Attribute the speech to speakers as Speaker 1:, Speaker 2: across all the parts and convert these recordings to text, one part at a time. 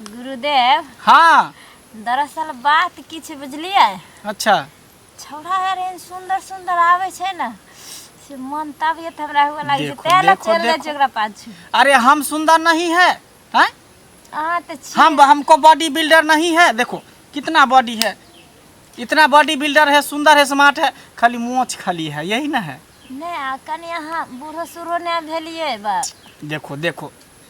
Speaker 1: गुरुदेव हाँ
Speaker 2: दरअसल
Speaker 1: बात किछु बुझलिए अच्छा
Speaker 2: छौड़ा
Speaker 1: यार एहन सुंदर सुंदर आवे छै ना से मन तबियत हमरा हुए लागे छै देखो, तैं लए देखो, चल जाए देखो। छै
Speaker 2: ओकरा पाछू
Speaker 1: अरे हम सुंदर
Speaker 2: नहीं है हैं? अहाँ तऽ
Speaker 1: छी हम हमको बॉडी बिल्डर
Speaker 2: नहीं है देखो कितना बॉडी है इतना बॉडी बिल्डर है सुंदर है स्मार्ट है खाली मोछ खाली है यही ना है नहि आ कनि
Speaker 1: अहाँ बूढ़ो सूढ़ो नहि भेलिए बा देखो देखो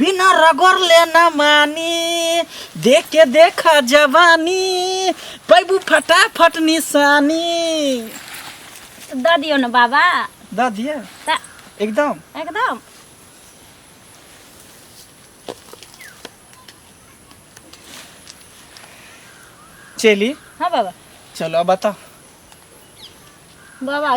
Speaker 2: बिना रगड़ले न मानी देख के देखा जवानी पैबू फटाफट निशानी
Speaker 1: दऽ दियौ ने बाबा दऽ दिए
Speaker 2: तऽ एकदम एकदम चली हँ बाबा
Speaker 1: चलो अब
Speaker 2: बताओ
Speaker 1: बाबा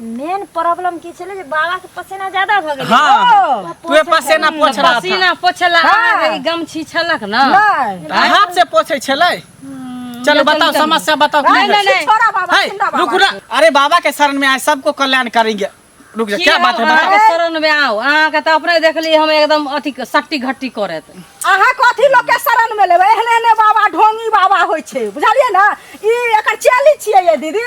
Speaker 1: मेन प्रॉब्लम की छले जे बाबा के पसीना ज्यादा भ गेल हाँ तू
Speaker 2: पसेना पोछ रहा था पसीना पोछला हाँ।
Speaker 3: आ गई गमछी
Speaker 4: छलक
Speaker 3: ना नहीं आ, हाथ से
Speaker 4: पोछे
Speaker 2: छले चलो बताओ समस्या बताओ नहीं, नहीं, नहीं। छोड़ा बाबा
Speaker 3: है, जिंदा रुक
Speaker 4: बाबा रहा
Speaker 2: अरे
Speaker 4: बाबा
Speaker 2: के शरण में आए सबको कल्याण करेंगे रुक जा क्या बात है अहाँ बताओ के शरण में आओ अहाँ
Speaker 3: के तऽ अपने देखली हम एकदम अथी सट्टी घट्टी करत अहाँ कथी
Speaker 4: लोग के शरण में लेबै एहने एहने बाबा ढोंगी बाबा होइ छै बुझलियै ने ई एकर चेली छियै ये दीदी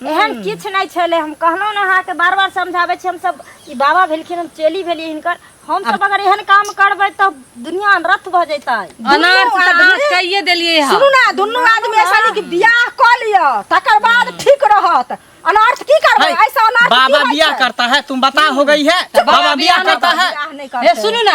Speaker 4: एहन
Speaker 1: किछु नहि छलै हम कहलहुँ ने अहाँके बार बार समझाबै छी हमसभ ई बाबा भेलखिन हम चेली भेलियै हिनकर हमसभ अगर एहन काम करबै तऽ दुनिया अनरथ भऽ जेतै अनार से तऽ अहाँ
Speaker 3: कहिए देलियै हँ सुनू ने दुनू आदमी
Speaker 4: ऐसा नहीं कि बियाह कऽ लिअ तकर बाद ठीक रहत अनर्थ की करबै है, ऐसा अनर्थ की बाबा होइ
Speaker 2: बिया
Speaker 4: छै? करता
Speaker 2: है तुम
Speaker 4: बता हो
Speaker 2: गई है बाबा बिया करता है बियाह नहीं हे करतै। सुनू ने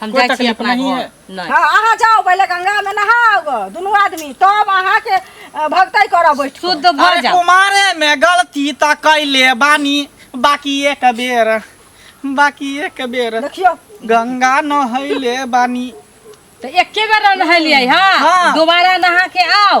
Speaker 3: हम कोई जाइ छी तकलीफ
Speaker 2: अपना नहीं घर
Speaker 3: है। नहि
Speaker 2: हाँ अहाँ
Speaker 3: जाओ पहिले
Speaker 4: गंगा में नहाओ गो दुनू आदमी तब अहाँ के अ, भगतई करऽ बैठ शुद्ध भऽ अरे जाओ कुमारे
Speaker 2: में
Speaker 3: गलती
Speaker 2: त कैले बानी बाकी एक बेर बाकी एक बेर देखियो गंगा नहैले बानी तऽ एके
Speaker 3: बेर नहेलियै हाँ। हाँ दोबारा नहा
Speaker 2: के
Speaker 3: आओ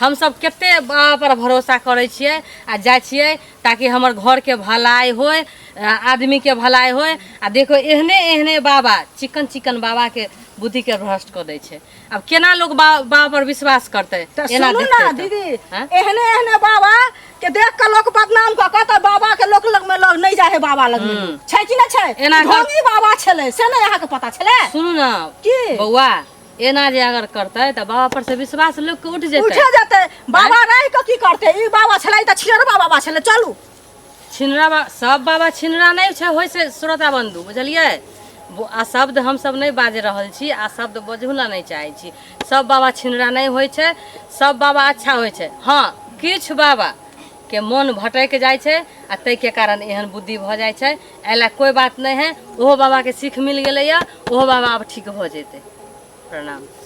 Speaker 3: हमसभ कते पर भरोसा करै छियै आ जाइ छियै ताकि हमर घरके भलाइ होय आदमीके भलाइ होय आ देखो एहने एहने बाबा चिकन चिकन बाबाके बुद्धिके भ्रष्ट कऽ दै छै आब केना लोग बाबा पर विश्वास करतै एना देखतै तऽ। दीदी एहने
Speaker 4: एहने
Speaker 3: बाबा
Speaker 4: के देख के लोग बदनाम कऽ के तऽ बाबा के लोक लग में लोग नहीं जाए है बाबा लग में छै कि ना छै एना ढोंगी बाबा
Speaker 3: छले से
Speaker 4: नहीं अहाँ के पता छले सुनू ने की
Speaker 3: बौआ एना जे अगर करतै तऽ बाबा पर से विश्वास लोक के उठ जेतै उठे जेतै बाबा
Speaker 4: रहि कऽ की करतै ई बाबा छलै तऽ छियरबा बाबा छलै चलू छिनरा बा
Speaker 3: सब बाबा छिनरा नहि छै होइ छै श्रोता बंधु बुझलियै बो- आ शब्द हमसब नहि बाज रहल छी आ शब्द बजहु ला नहि चाहै छी सब बाबा छिनरा नहि होइ छै सब बाबा अच्छा होइ छै हँ किछु बाबा के मोन भटक जाइ छै आ ताहिके कारण एहन बुद्धि भऽ जाइ छै एहि लए कोइ बात नहि है ओहो बाबाके सीख मिल गेलैए ओहो बाबा आब ठीक भऽ जेतै प्रणाम